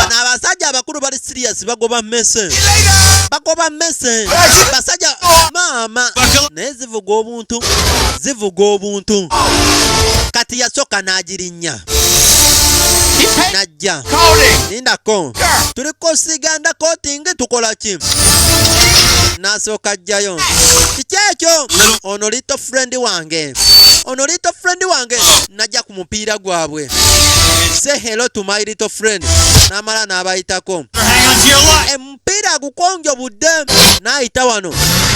na abasajja abakulu bali serious bagoba mese bagoba mese basajja maama naye zivuga obuntu zivuga obuntu kati yasooka n'agirinya najja lindako tuli kusiganda kotingi tukola ki nasooka ajjayo kiki ekyo ono lito friend wange ono lito friend wange najja ku mupiira gwabwe say hello to my little friend n'amala n'abayitako omupiira gukonjo budde n'ayita wano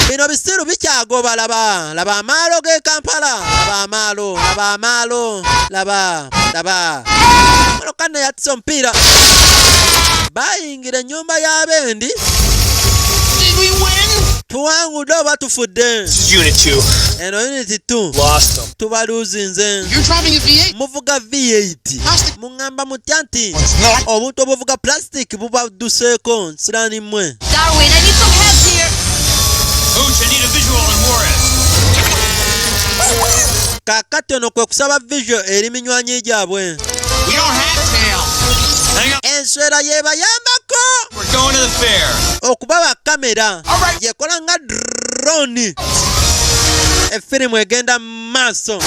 bino bisiru bikyagoba laba laba amaalo g'e kampala laba amaalo laba amaalo laba laba kano yatisa omupiira bayi tusingira ennyumba ya bendi tuwangudde oba tufudde eno uniti t tubaluuzinze muvuga v8 muŋŋamba mutya nti obuntu obuvuga plastic bubadduseeko nsiraani mmwe kakati ono kwe kusaba vision eri minywanyi gyabwe enswera yebayambako okubawa kamera yekola nga drone efirimu egenda mu maaso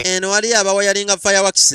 eno waliyo abawayalinga fireworks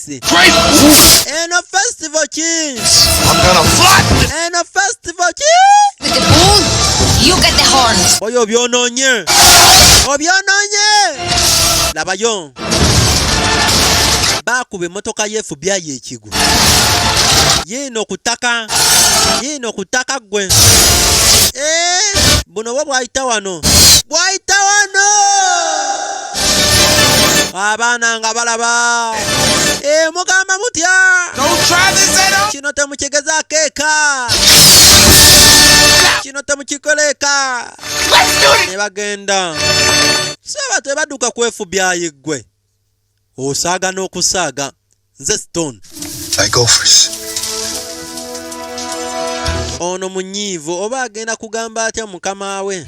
Kings. Great Wolf. And a Festival Kings. I'm gonna fly. And a Festival Kings. With the bull, you get the horn. Oyo byononye. Obyononye. Labayo. Bakube motoka yefu bya yekigu. Yino kutaka. Yino kutaka gwe. Eh, buno bwo bwayita wano. Bwayita wano. abaana nga balaba e, mugamba mutya kino temukigezaako eka kino temukikoleeka ne bagenda saba tebadduka kwefubyayi ggwe osaaga n'okusaaga nze stone ono munyiivu oba agenda kugamba atya mukama we